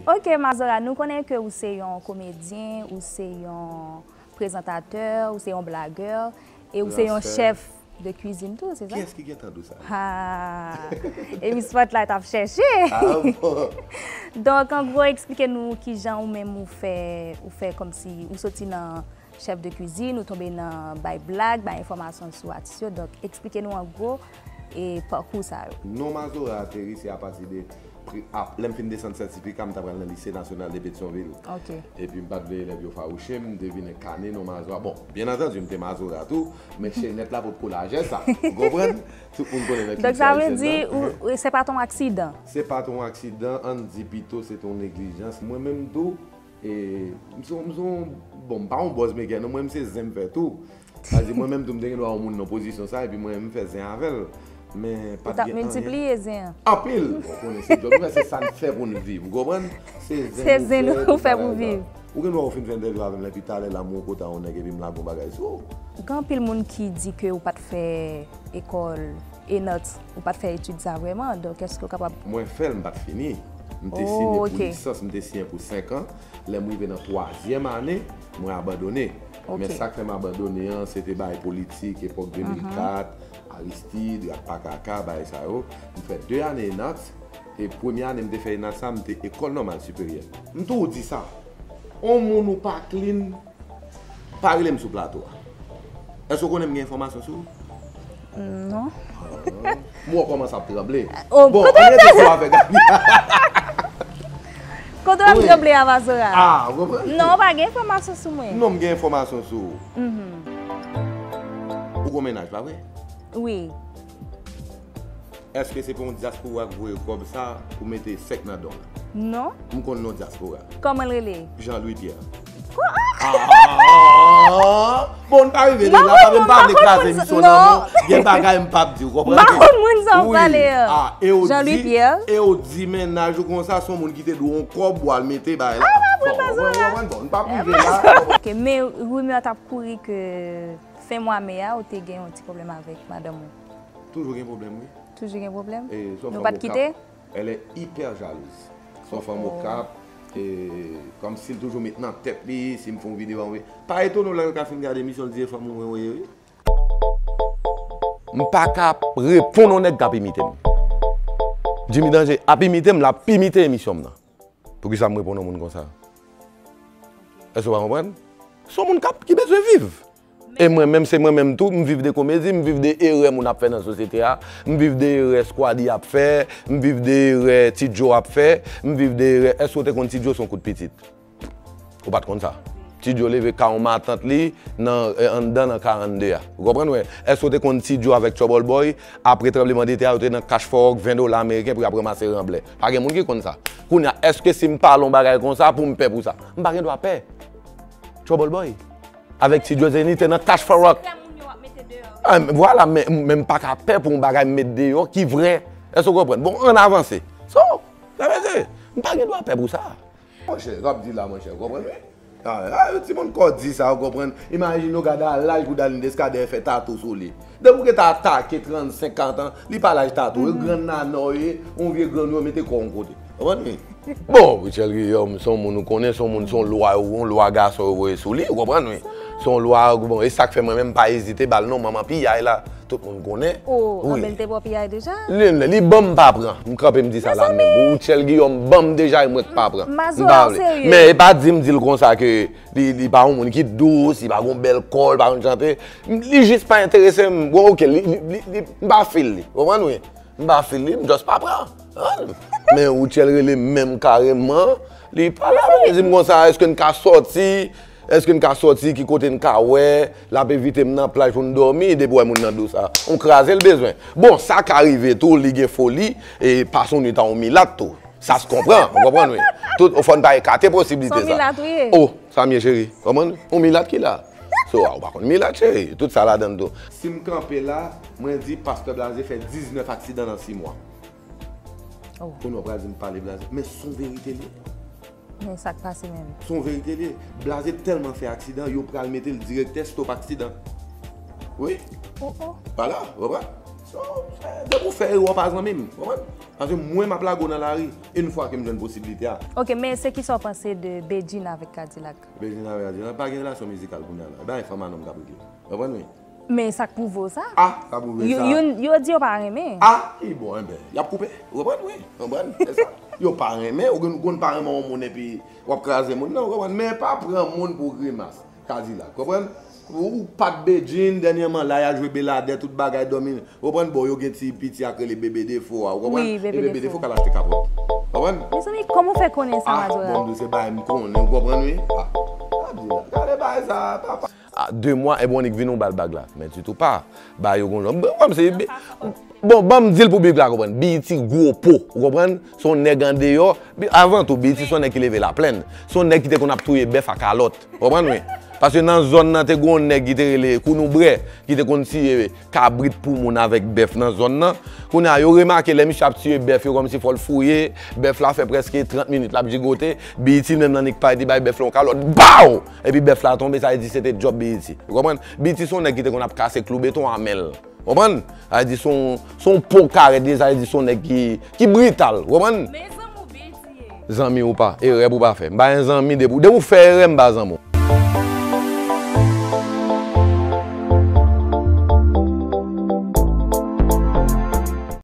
Ok mazora nou konnen ke ou se yon komedyen, ou se yon prezantatè, ou se yon blagè, e ou se yon chèf de kwizin tou se sa? Kiyès ki gentan di sa? Haa e mi spotlight ap chèche. Ah bon. Donk an gwo eksplike nou kijan ou menm ou fè, ou fè kòmsi ou soti nan. chèf de kwizin ou tonbe nan bay blag, bay enfòmasyon sou atis yo, donk eksplike nou an gwo e pakou sa yo. Non Mazora ateri se apati de pri ap. Lè m fin desann sètifika m ta pral nan lise nasyonal de Petyonvil. Ok. Epi m pa t vle elèv yo fawouche m, m te vin enkane non Mazora. Bon, byen antandu m te Mazora tou, men chenèt la potko lajè sa. Ou konprann? Tout moun konnen nan kilti ayisyen nan. Donk sa vle di ou, se pa t on aksidan? Se pa t on aksidan, an n di pito se t on neglijans. Mwen menm tou, M son bon m pa yon bòz mekè non mwen m se zen m fè tou sa vle di mwen menm tou m te gen dwa wè yon moun nan pozisyon sa epi mwen m fè zen avèl men pat gen anyen ou tap miltipliye zen an anpil bon konnen se djòb nou fè se sa n fè pou n viv ou konprann se zen nou fè pou viv ou gen dwa ou fin fè entèvyou avèm la epi talè la m wè w kota yon nèg epi m lage yon bagay sou ou gen anpil moun ki di ke ou pat fè ekòl. E not, ou pat fè etid sa vreman, donk eske ou kapab. Mwen fè l, m pat fini. M te siyen pou lisans, m te siyen pou 5 an. Lè m rive nan twazyèm ane, mwen abandone. Men sa k fè m abandone an, se te bagay politik, epòk 2004, Aristide, rat pa kaka, bagay sa yo. M fè 2 ane ENAT, e premye ane m te fè ENAT sa, m te Ecole Normale Supérieure. M toujou di sa, on moun ou pa klin. Pa rele m sou plato a. Èske w konnen m gen enfòmasyon sou ou? Non. M wè w kòmanse ap tranble. Bon, an n rete sou afè Gaby a. Kote w ap tranble a Mazora? A, w konprann? Non, w pa gen enfòmasyon sou mwen. Non, m gen enfòmasyon sou ou. Ou gon mennaj, pa vre? Wi. Eske se pa yon diaspora ki voye kob sa pou mete sek nan don. Non. M konn non diaspora. Koman l rele? Jean Louis Pierre. Bon m pa rive la paske m pa vle kraze emisyon nan non. Gen bagay m pap di ou konprann. M pa konn moun sa w pale yo. Jean Louis Pierre. E w di mennaj ou konsa se yon moun ki te dwe yon kob pou al mete bay la. M pa pran zon la. Bon m pap rive la. Ok men rumeur tap kouri ke fen mwa me a ou te gen yon ti pwoblèm avèk madanm ou. Toujou gen problème wi. Toujou gen problème? Nou pat kite? Elle est hyper jalouse. Son fanm okap, kom sil toujou met nan tet li, sim fon video anwe. Pa etone w lè yo ka fin gade emisyon l di e fanm ou mwen wè wi. M paka reponn on nèg kap imitem. Jimmy Danger ap imitem lap imite emisyon m nan. Poukisa m reponn yon moun konsa? Èske w pa konprann? Se yon moun kap, ki bezwen viv. E mwen menm, se mwen menm tou, m viv de komedi, m viv de erè moun ap fè nan sosyete a, m viv de erè Squally ap fè, m viv de erè Ti Joe ap fè, m viv de erè, èske w te konn Ti Joe se yon kout pitit? Ou pa t konn sa. Ti Joe leve ka yon matant li nan, anndan nan 42 a. Ou konprann mwen? Èske w te konn Ti Joe avèk Trouble Boy, apre tranbleman de tè a, yo te nan kach fò òk 20 dola ameriken pou y ap ranmase ranblè? Pa gen moun ki konn sa. Kounye a, èske si m pale yon bagay konsa pou m pè pou sa? M pa gen dwa pè. Trouble Boy. Avèk Ti Djo Zenny te nan Cash for Rock. Lè moun yo ap mete deyò yo. An, vwala, men, men m pa ka pè pou yon bagay m met deyò ki vrè. Èske w konprann? Bon, ann avanse. So, sa vle di, m pa gen dwa pè pou sa. Monchè sa wap di la monchè ou konprann wi ah yon timoun kò di sa ou konprann imajine ou gade a laj pou Darline Descadere fè tatou sou li depi ou gete atake 35 40 ans li pa laj tatou ou grann nannan ou ye yon vye grann ou mete kòw yon kote ou konprann wi bon Rutshelle Guillaume son moun ou konnen son moun son lwa yon lwa gason yo voye sou li ou konprann wi son lwa bon esak fè mwen menm pa ezite bal non manman piyay la. Tout moun konnen. Ooh Abel te bo piyay deja? Lynn, li banm pa pran. M kanpe m di sa la menm. Rutshelle Guillaume banm deja e mwen k pa pran. M pa vle. Men e pa di m di l konsa ke li pa yon moun ki dous, li pa gon bèl kò, li pa konn chante. Li jis pa enterese m. Bon ok, m pa feel li. Ou konprann wi? M pa feel li, m just pa pran. Men Rutshelle rele m menm kareman. Li pale avè m, li di m konsa, èske n ka sòti? Eske n ka soti ki kote n ka wè lap envite m nan plaj pou n dòmi depi w wè moun nan do sa on kraze l bezwen bon sa ka rive tou li gen foli e pas on nwit a on milat tou sa s konpran ou konprann wi tout fò n pa ekate posibilite sa son milat ou ye oh sa m ye cheri konprann on milat ki la so a ou pa konn milat cheri tout sa ladann tou. Si m kanpe la mwen di pastè blaze fè 19 aksidan nan 6 mwa oh kounye w pral di m pale blaze men son verite l ye. Men sak pase menm. Son verite liye. Blaze telman fè aksidan yo pral metel direktè stop aksidan. Wi. Oh oh. Wala, ou konprann? So, depi ou fè erè ou pa zanmim. Ou konprann? Paske mwen map lage ou nan lari yn fwa kem jwenn posibilite a. Ok, men se kisa ou panse de Bedjine avèk Kadilak? Bedjine avèk Kadilak pa gen relasyon mizikal kounya la. E bagay fanm a nonm kap regle. Ou konprann wi? Men sak prouve w sa? Ah sa prouve sa? Youn yo di yo pa renmen. Ah ki bon enben yap koupe ou konprann wi ou konprann se sa yo pa renmen ou konn pa renmen yon moun epi wap kraze moun nan ou konprann men pa pran moun pou grimas kadilak konprann ou pat Bedjine dènyèman la ya jwe beladè tout bagay dòmi ou konprann bon yo gen ti piti ak rele bebe defo a ou konprann wi bebe defo bebe ka lachte kapòt ou konprann mezanmi kòman ou fè konnen sa majorette ah bon m se bagay m konnen ou konprann wi ah kadilak gade bagay sa papa. A 2 mwa Ebonic vin ou bal bag la. Men ditou pa ba yo gon lòt. Banm se bi. Bon banm dil pou bgy la konprann. BET gwo po. Ou konprann? Se yon nèg andeyò. Avan tou BET se yon nèg ki leve laplenn. Se yon nèg ki te konn ap touye bèf a kalòt. Ou konprann wi. Paske nan zòn nan te gon yon nèg ki te rele Kounoubre ki te konn tiye kabrit pou moun avèk bèf nan zòn nan. Kounye a yo remake lè misye ap tiye bèf yo kòmsi fò l fouye. Bèf la fè prèske 30 minit l ap jigote. BET menm nan nik pa li te bay bèf la yon kalòt. Baww! Epi bèf la tonbe, sa vle di se te djòb BET. Ou konprann? BET se yon nèg ki te konn ap kase klou beton a men l. Ou konprann? Sa vle di se yon po kare li ye, sa vle di se yon nèg ki brital. Ou konprann? Men zanmi w BET ye. Zanmi ou pa, erè pou w pa fè. M pa gen zanmi, depi w fè erè m pa zanmi w.